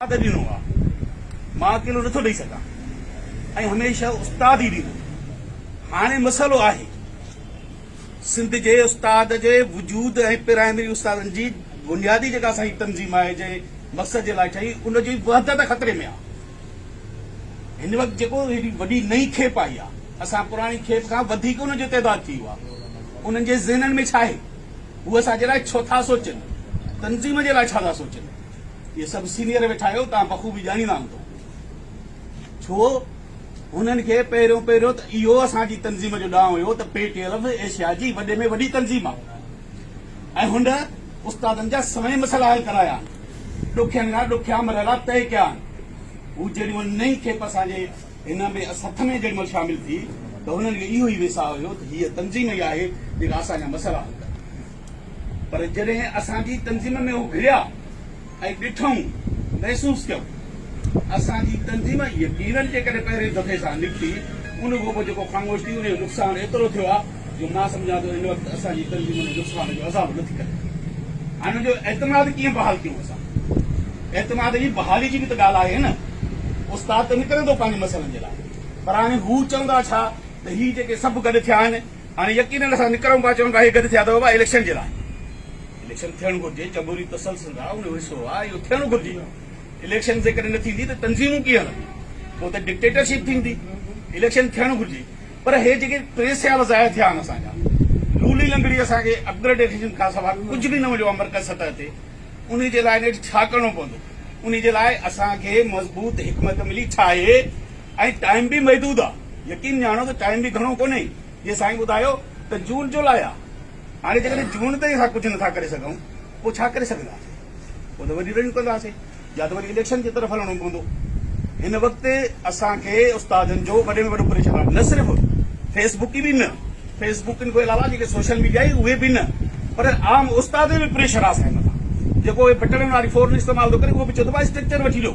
استاد ڏنو آ مان اڪيلو نٿو ڏئي سگهان ۽ هميشه استاد ئي ڏيندو هاڻي مسئلو آهي سنڌ جي استاد جي وجود ۽ پرائمري استادن جي بنيادي جيڪا اسان جي تنظيم آهي جنهن مقصد جي لاء ٺهي ان جي وحدت خطري ۾ آ هن وقت جيڪو هيڏي وڏي نئين کيپ آئي آ اسان پراڻي کيپ کان وڌيڪ ان جو تعداد ٿي ويو آ انهن جي ذهنن ۾ ڇا آهي هو اسان جي لاء ڇو ٿا سوچن تنظيم جي لاء ڇا ٿا سوچن اهي سڀ سينيئر ويٺا آهيو، توهان بخوبي ڄاڻيندا هوندؤ، ڇو هنن کي پهريون پهريون ته اهو اسان جي تنظيم جو ڏانء هيو ته پي ٽي ايل ايشيا جي وڏي ۾ وڏي تنظيم آهي ۽ هن استادن جا سوين مسئلا حل ڪرايا آهن، ڏکين کان ڏکيا مرحلا طئي ڪيا آهن، هو جيڏي مهل نئين کيپ اسان جي هن ۾ سٿ ۾ جيڏي مهل شامل ٿي ته هنن کي اهو ئي ويساهه هيو ته هيء تنظيم ئي آهي جيڪا اسان جا مسئلا حل ڪندي. پر جڏهن اسان جي تنظيم ۾ هو گهڙيا ۽ ڏٺائون، محسوس ڪيائون. اسان جي تنظيم يقينن جيڪڏهن پهرين دفعي سان نڪتي، ان کان پوء جيڪو خاموش ٿي، ان جو نقصان ايترو ٿيو آهي جو مان سمجهان ٿو هن وقت اسان جي تنظيم ان نقصان جو ازالو نه ٿي ڪري. هن جو اعتماد ڪيئن بحال ڪيون اسان؟ اعتماد جي بحالي جي به ته ڳالهه آهي نه. استاد ته نڪرندو پنهنجي مسئلن جي لاء، پر هاڻي هو چوندا ڇا ته هي جيڪي سڀ گڏ ٿيا آهن، هاڻي يقينن اسان نڪرون پيا چون راهي گڏ ٿيا اٿو بابا اليڪشن جي لاء اليڪشن ٿيڻ گهرجي چنبوري تسلسل جا ان جو حصو آ اهو ٿيڻ گهرجي اليڪشن جيڪڏهن نه ٿيندي ته تنظيمون ڪيئن هلنديون پوء ته ڊڪٽيٽرشپ ٿيندي اليڪشن ٿيڻ گهرجي پر هي جيڪي ٽي سيال ضايع ٿيا آهن اسان جا لولي لنگڙي اسان کي اپگريڊيشن کان سواء ڪجهه به نه مليو آ مرڪز سطح تي ان جي لاء نيٺ ڇا ڪرڻو پوندو ان جي لاء اسان کي مضبوط حڪمت عملي ڇا آهي ۽ ٽائيم به محدود آ يقين ڄاڻو ته ٽائيم به گهڻو ڪونهي جيئن سائين ٻڌايو ته جون جولاء آ هاڻي جيڪڏهن جون تائين اسان ڪجهه نٿا ڪري سگهون پوء ڇا ڪري سگهنداسين پوء ته وري رنيو ڪنداسين يا ته وري اليڪشن جي طرف هلڻو پوندو هن وقت اسان کي استادن جو وڏي ۾ وڏو پريشر آ نه صرف فيس بڪ به نه فيس بڪن کان علاوه جيڪي سوشل ميڊيا آهي اهي به نه پر عام استاد جو به پريشر آ اسان جي مٿان جيڪو هي بٽڻن واري فون استعمال ٿو ڪري اهو به چئي ٿو ڀاء اسٽرڪچر وٺي ڏيو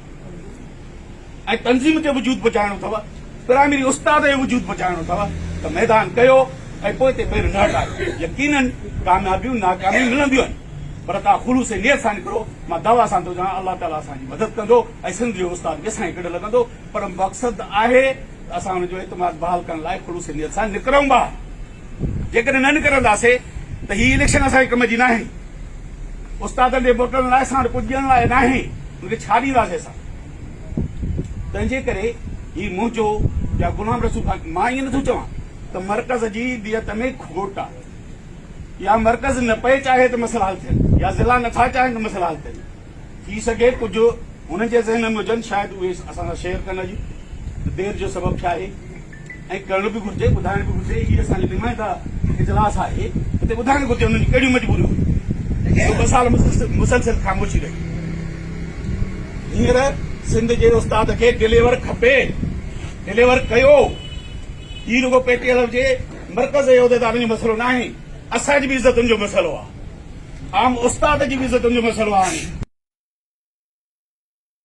۽ تنظيم کي وجود بچائڻو اٿو پرائمري استاد کي وجود بچائڻو اٿو ته ميدان ڪيو ۽ پوئتي پير نه هٽايو يقينن ڪاميابيون ناڪاميون ملنديون آهن پر توهان خلوص نيت سان نڪرو مان دعويٰ سان ٿو چوان الله تعالي اسان جي مدد ڪندو ۽ سنڌ جو استاد به اسان جي ڪنڊ لڳندو پر مقصد آهي ته اسان ان جو اعتماد بحال ڪرڻ لاء خلوص نيت سان نڪرون ٻاهر. جيڪڏهن نه نڪرنداسي ته هي اليڪشن اسان جي ڪم جي ناهن، استادن جي ووٽن لاء اسان وٽ ڪجهه ڏيڻ لاء ناهي، ان کي ڇا ڏينداسي اسان؟ تنهنجي ڪري هي منهنجو يا غلام رسول خان، مان ائين نٿو چوان ته مرڪز جي نيت ۾ کوٽ آ يا مرڪز نه پئي چاهي ته مسئلا حل ٿين يا ضلعا نٿا چاهين ته مسئلا حل ٿين، ٿي سگهي ڪجهه هنن جي ذهن ۾ هجن شايد اهي اسان سان شيئر ڪن اڄ ته دير جو سبب ڇا آهي ۽ ڪرڻ به گهرجي ٻڌائڻ به گهرجي هي اسان جو نمائنده اجلاس آهي هتي ٻڌائڻ گهرجي هنن جون ڪهڙيون مجبوريون هيون ٻه سال مسلسل خاموشي رهي هينئر سنڌ جي استاد کي ڊليور کپي ڊليور ڪيو هي رڳو پي ٽي ايل جي مرڪز جي عهديدارن جو مسئلو ناهي اسان جي به عزتن جو مسئلو آهي عام استاد جي به عزتن جو مسئلو آهي.